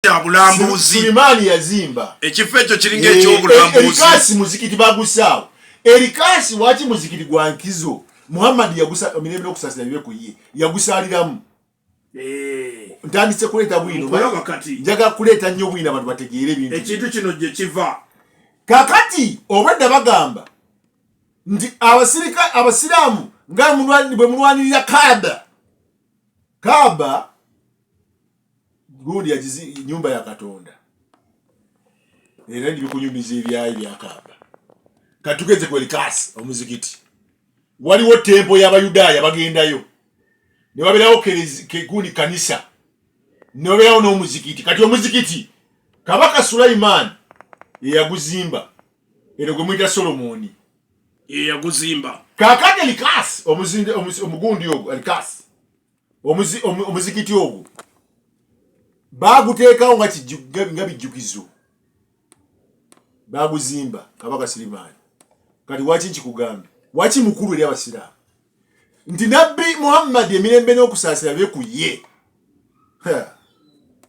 kyabulambuzi Sulemani yazimba ekifo ekyo kiringa ekyobulambuzi erikasi muzikiti bagusaawo erikasi waki muzikiti gwa nkizo Muhammad yagusa mirembe n'okusasira bibe ku ye yagusaaliramu eh. ntandise kuleeta bwino njaga kuleeta nnyo bwino abantu bategeere ebintu ekintu kino gye kiva kakati obwedda bagamba nti abasirika abasiraamu nga bwe mulwanirira kaaba kaaba gundi yagizi nyumba ya katonda era ndibikunyumiza ebyayi byakamba katugeze ku elikasi omuzikiti waliwo tempo y'abayudaaya bagendayo ne babeerawo gundi kanisa ne babeerawo n'omuzikiti kati omuzikiti kabaka sulayimaani eyaguzimba eno gwe muyita solomoni eyaguzimba kakati elikasi omugundi ogwo elikasi omuzikiti ogwo baaguteekawo nga bijjukizo baaguzimba kabaka sirimaani kati waki nkikugambye waki mukulu eri abasiraamu nti nabbi muhammadi emirembe n'okusaasira bye ku ye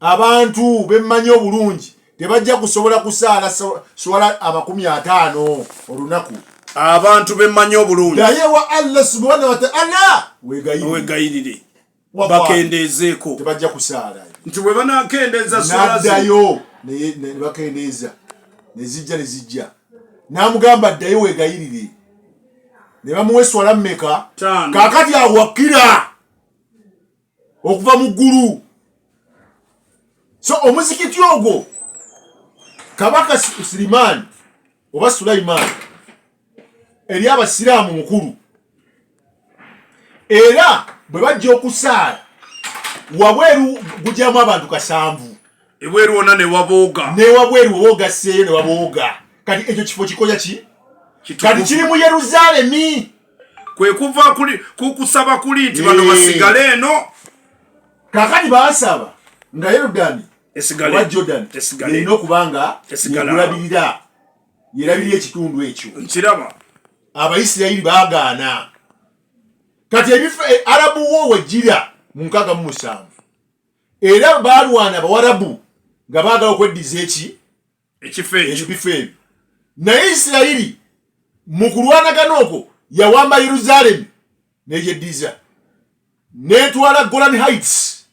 abantu bemmanyi obulungi tebajja kusobola kusaala swala amakumi ataano olunaku abantu bemmanyi obulungi naye wa allah subhana wataala wegayirire bakendeezeeko tebajja kusaala nti bwe banakendeeza swaladayo nebakendeeza nezijja nezijja namugamba addayo wegayirire ne bamuwa eswala mumeka kakati awakira okuva mu ggulu so omuzikiti ogwo kabaka sirimaani oba sulayimaani eri abasiraamu mukulu era bwe bajja okusaala wabweru gujamu abantu kasanvu ebweru wona newabooga newabweru wowogaseeyo newabooga kati ekyo kifo kikoya ki kati kiri mu yerusaalemi kwe kuva ku kusaba kuli nti bano basigale eno kakati basaba nga yorudani oba jordan erina okuba nga yekulabirira yerabirira ekitundu ekyo nkiraba abaisirayiri bagaana kati ebifo e, arabu wo wejjira mu nkaga mu musanvu era balwana abawarabu nga baagala okweddiza eki ekifo ekyo naye isirayiri mu kulwanagana okwo yawamba yerusaalemi negyeddiza netwala golan heights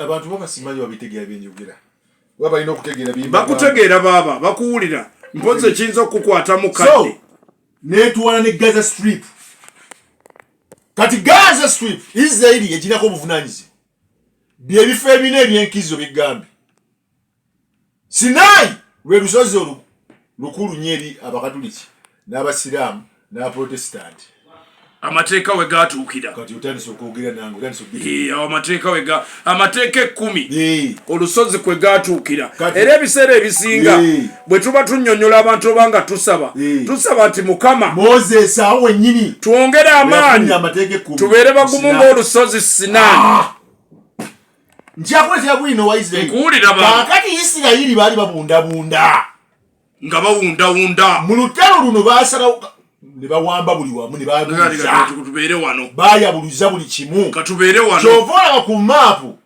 abantu babasimanyi babitegera byenjogera oba balina okutegeera bakutegeera baaba bakuwulira mpozi ekiyinza okukukwata mu kadde netwala ne gaza strip kati gaza strip isirayiri eginako obuvunanyizibwa byebifo ebina ebyenkizo bigambye sinaayi lwe lusozi olu lukulu nyo eri abakatuliki n'abasiraamu n'abaprotesitanti amateeka we gatuukira kati otandise okwogera nange otandise amateeka we ga amateeka ekkumi olusozi kwe gatuukira era ebiseera ebisinga bwe tuba tunnyonnyola abantu oba nga tusaba eh. tusaba nti mukama moses awo wennyini twongere amaanyi tubeere bagumu ng'olusozi sina ah! njakuletera bwino wa isirairikakati isirayiri baali babundabunda nga bawundawunda mu lutalo luno basalawo ne bawamba buli wamu ne baatubeere wano bayabuluza buli kimu katubeere wano kyova olaba ku maapu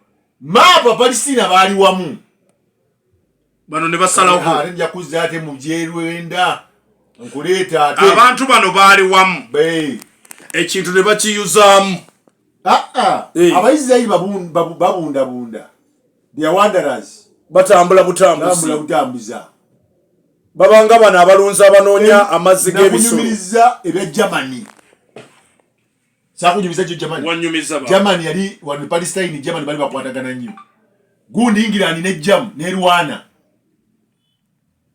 maapu abalisitiina baali wamu bano ne basalawo nja kuzza ate mu byerwenda nkuleeta ate abantu bano baali wamu ekintu ne bakiyuzaamu ah, ah. abaisirairi babundabunda thewanderas batambula butambuzibutambuza babanga bano abalunzi abanoonya amazzi g'ebisulunyumiriza ebya germany sakunyumiza kyo jamani wanyumiza ba jamani yali wanu palestine jamani bali bakwatagana nnyo gundi ingirani ne jamu ne rwana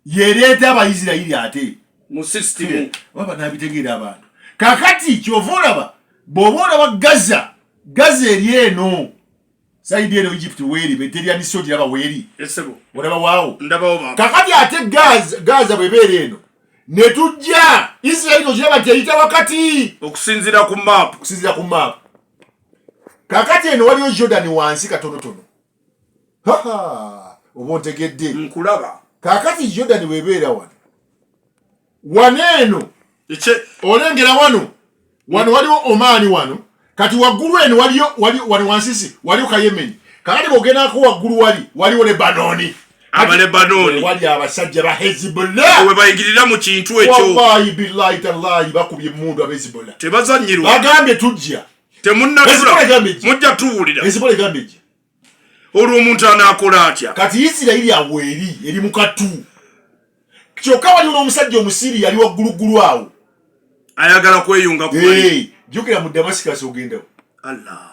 yereeta abayisirayiri ate mu system waba nabitegeera abantu kakati kyova olaba bw'oba olaba gaza gaza eri eno saidi eno egypt weeri beterya miso giraba weeri olaba waawo kakati ate gaza bwebeera eno netujja israeli ogiraba nti eyita wakati okusinzira ku map okusinzira ku map kakati eno waliyo jordan wansi katonotono oba ontegedde nkulaba kakati jordan webeera wano wano eno olengera wano wano waliwo omaani wano kati waggulu eno waliyo wano wansisi waliwo kayemeni kakati bogendako waggulu wali waliwo lebanoni abalebanoni wali abasajja ba hezibullah we bayingirira mu kintu ekyo wallahi billahi tallahi bakubye emundu abezibullah tebazanyirwa bagambye tujja temunnatula mujja tuwulira hezibullah egambye olwo omuntu anaakola atya kati isirayiri awo eri eri mu katu kyokka waliwo n'omusajja omusiri yali wagguluggulu awo ayagala kweyunga jukira mu damascus ogendawo allah